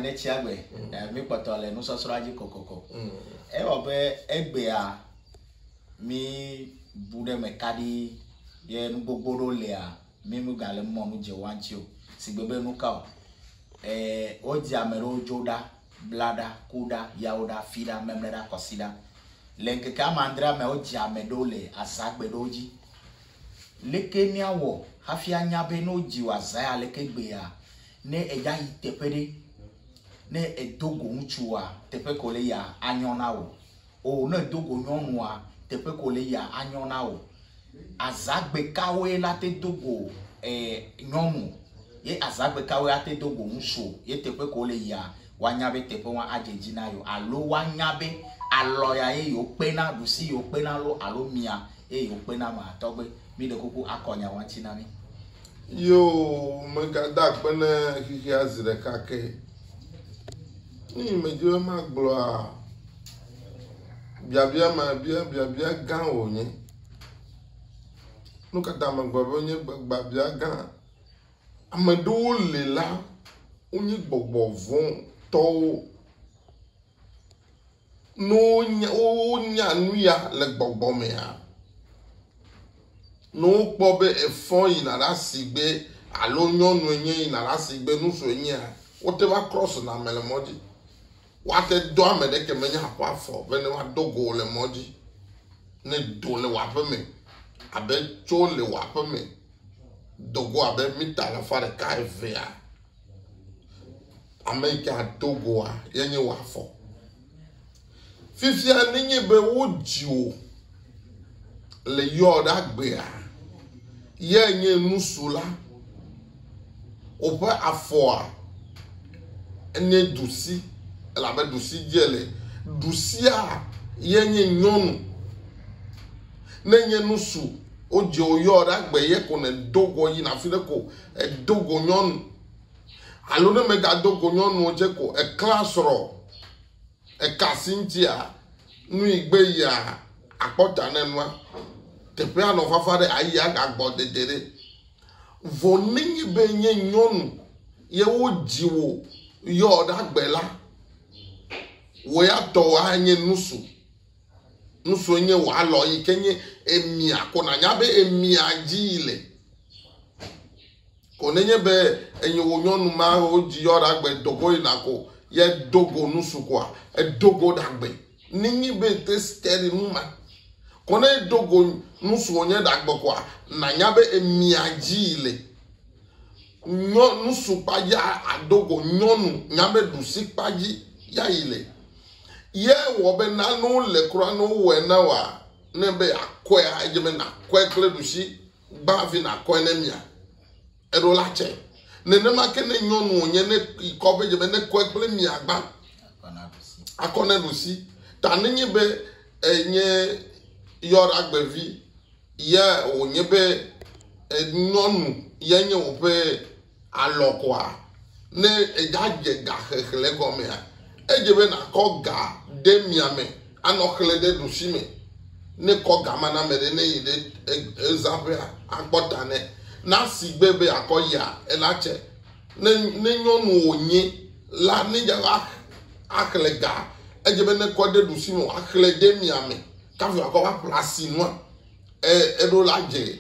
ne tsia gbe eh, mi kpɔtɔ le nusɔsrɔ̃a dzi kokoko. Ewɔ be egbea mi bu ɖe me kaɖi ye nu gbogbo ɖo lea mi mu gale mɔ nu dze wan tsi o. Sigbe be nu ka o. Eh, wodzi ame ɖewo dzo ɖa, bla ɖa, ku ɖa, yawo ɖa, fi ɖa, memle ɖa, kɔsi ɖa. Le ŋkeke ame adre me wodzi ame ɖewo le azagbe ɖewo dzi. Leke miawɔ hafi anya be ne wodzi wò azaya leke gbea Ne èdza yi teƒe ɖe, ne èdo go ŋutsua, teƒe ke wòle yia, anyo na wò. O, ne èdo go nyɔnua, teƒe ke wòle yia, anyo na wò. Azãgbe kawoe la te do go ɛɛ nyɔnu ye azãgbe kawoe ate do go ŋutsu ye teƒe ke wòle yia, woanya be teƒe ŋua adze edzi na yewo alo woanya be alɔ ya ye yewo kpena, ɖusi yewo kpena lo alo mia ye yewo kpena mea, tɔgbe, mi ɖe kuku akɔ nya ma ŋuti na mi. Yo megada akpe ne xexea zi ɖeka ke. Nu yi medzi be magblɔa, biabia ma bia biabia gã wònye. Nu ka ta megblɔ be wonye biabia gã? Ame ɖewo le la, wonye gbɔgbɔ vɔ̃ tɔwo. Ne wonya, wonya nu ya le gbɔgbɔ mea, ne wokpɔ be efɔ yina ɖe asi gbe alo nyɔnu enye yina ɖe asi gbe, nusrɔ̃ enyea, wote va krɔsena ame le mɔ dzi. Woate dɔ ame ɖeke menye aƒea fɔ be ne woadɔ go wò le mɔ dzi ne do le wò aƒe me abe tso le wò aƒe me do go abe mita alafa ɖeka evea. Ame yi ke ado goa ye nye wò afɔ. Fifia nenye be wodzi wò le yɔɔɖagbea, ye nye nusula, woƒe afɔa enye ɖusi, elabe ɖusi dze le. Ɖusia ye nye nyɔnu. Ne nye nusu, wodze wo yɔɔɖagbe ye ko nèdo go yina afi ɖe ko edo go nyɔnu. Alo ne mègado go nyɔnu o dze ko eklẽa srɔ̃. Eka Cynthia nui gbe yia akpɔ ta ne nua. Teƒea nɔ fafa ɖe ayi agagbɔ dede ɖe. Vɔ nenye be nye nyɔnu ye wodzi wò yɔ ɖagbe la, wò ya tɔ wò anye nusu. Nusu nye wò alɔ yi ke nye emia ko nànya be emia dzi yi le. Ko nenye be enye wò nyɔnu ma wodzi yɔ ɖagbe dogo yina ko ye dogo nusu koa edogo ɖagbe ninyi be te steri nu ma. Ko ne edogo nusu wònye ɖagbe koa nanya be emia dzi le. Nyɔ nusu kpa ya adogo nyɔnu nya be ɖusi kpa dzi ya yi le. Ye wɔ be nanu le kura no wɔ ena wa ne be akɔe adze be nakɔe kple ɖusi. gbã hafi nàkɔe ne mia. Eɖo la tsɛ. Nenema ke ne nyɔnu wònye ne yi kɔ be dze be ne kɔe kple mia gbã akɔ ne ɖusi. Ta nenye be enye yɔɖagbevi ye wònye be nyɔnu ye nye woƒe. Alɔ̃ koa? Ne ègadze ga xexlẽ gɔmea, edze be nàkɔ ga ɖe mia me anɔ xlẽ ɖe ɖusi me. Ne kɔ ga ma na ame ɖe ne yi ɖe ezaƒea akpɔ ta nɛ. Na sigbe be àkɔ ya ela tse. Ne, ne nyɔnu wònye la, ne dze va axlẽ gaa, edze be nekɔ ɖe ɖusi me wòaxlẽ ɖe mia me kafu akɔ va ƒle asi nua e, eɖo la dze.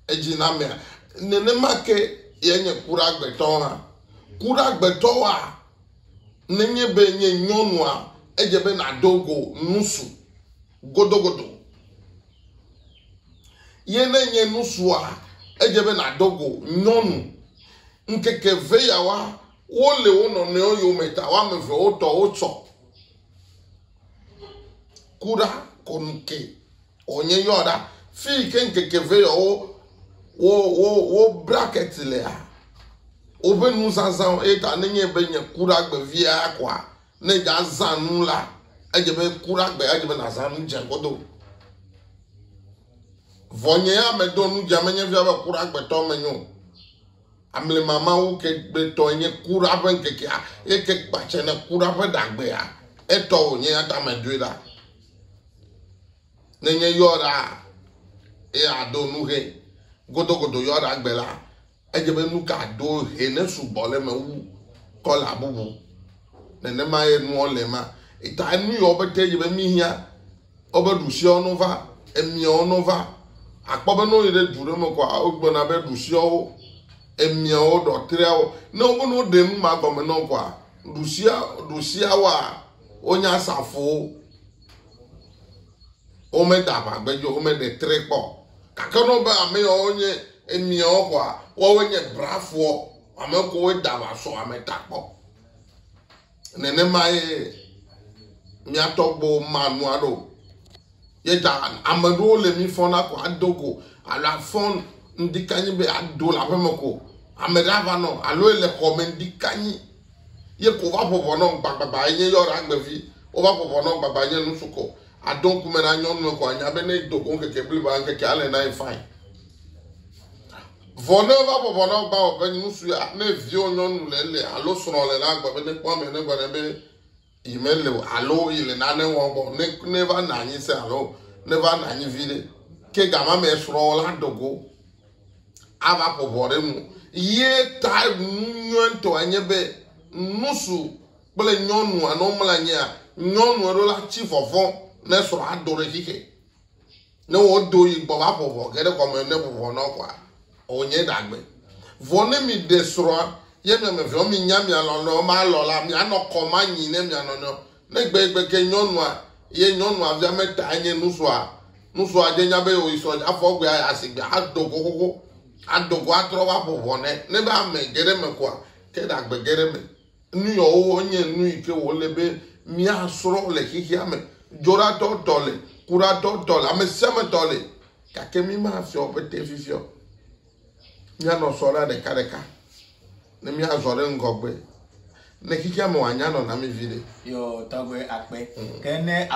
edzinamea, nenema ke ye nye kuɖagbetɔ hã. Kuɖagbetɔwoa, nenye be nye nyɔnua, edze be nàdo go nusu godogodo. Ye ne nye nusua, edze be nàdo go nyɔnu. Ŋkeke ve yawoa, wole wo nɔnɔewo yome ta, woame eve wotɔ wotsɔ. Kuɖa kɔnu ke. Wònye yɔ ɖa fi yi ke ŋkeke vɛ yɔ wo wo wo wo brakɛti lea woƒe nuzazãwo eye ta nenye be nye kuɖagbe via koa ne dzazã nu la edze be kuɖagbe edze be nazã nu dze godo vɔ nye ya medo nu dze menye fia be kuɖagbetɔ menyo amlemamawo ke gbetɔ nye kuɖa ƒe ŋkekea eye ke kpatse ne kuɖa ƒe ɖagbea etɔ wònye ya ta medoe ɖa Ne nye yɔɖa eye ado nu hɛ godogodo yɔɖa gbe la, edze be nu ka do hɛ ne sugbɔ le me wu kɔla bubu. Nenema ye nua le ma. Eta nu yɔ be te dze be mi hia wobe ɖusia wo nova, emia wo nova. Akpɔ be no yi ɖe du ɖe me kɔa wogblɔna be ɖusia wo, emia wo ɖɔtria wo. Ne wobe no ɖe nu ma gɔme nɔ kɔa ɖusia ɖusia wa. Wonye asafowo. Womeda aʋagbedzo, womeɖe tre kpɔ. Gake ne wobe ame yawo nye emiawo koa, woawoe nye brafoɔ, ame kowoe da aʋa sɔ ame ta kpɔ. Nenemae mía tɔgbuiwo ma nu aɖe o. Ye ta ame aɖewo le mi fɔna ko ado go alo afɔ ŋdi kanyi be ado le aƒeme ko. Ame ɖe ava nɔ alo ele xɔme ŋdi kanyi Ye ko va ƒo ʋɔ nɔm gbagbagba enye yɔra agbevi. Wova ƒo ʋɔ nɔm gbagba enye nusukɔ. Àdo ŋku me na nyɔnue ko ànya be ne edo go ŋkeke bliboa, ŋkekea alé na ye fain. Vɔ ne eva ƒo ʋɔ nɔm gbawɔƒe nusuea, ne viwò nyɔnu le ele alo srɔ̃wò le la, agbe be nekpɔ ame negblɔ nɛ be, Yi mele o alo yi le nane wɔm kpɔ ne ne va na anyi se alo ne va na anyi vi ɖe. Ke gama me srɔ̃ la dogo ava ƒo ʋɔ ɖe nu. Ye ta nu nyuitɔ enye be nusu kple nyɔnu anɔ mla nyia nyɔnu eɖo la tsi fɔfɔ ne srɔ̃ ado ɖe xixe. Ne wodo yi gbɔ va ƒo vɔ ge ɖe kɔme ne vuvɔ nɔ koa, wònye ɖagbe. Vɔ ne mìɖe srɔ̃a, ye mia me veawo minya mia lɔlɔ̃ewo ma lɔ la, mianɔ kɔ manyi ne mia nɔnɔewo. Ne gbegbe ke nyɔnua, ye nyɔnua via me tae nye nusrɔ̃a, nusrɔ̃a dze nya be wòyi srɔ̃ dzi afɔ gbe ayi asigbe ado go xoxo, ado go atrɔ va ƒo vɔ nɛ, ne va ame ge ɖe eme koa, ke ɖagbe ge ɖe eme. Nu yɔwo nye nu yi ke wòle be míasrɔ̃ le xexea me. Dzoɖatɔ tɔ le, kuɖatɔ tɔ le, amesiametɔ le. Gake mí mafiɔ be te fifi o. Míanɔ sɔ ɖa ɖekaɖeka ne míazɔ ɖe ŋgɔgbe ne xexea me wòanya nɔname viɖe. Yɔ tɔgbe akpe. Ke ne.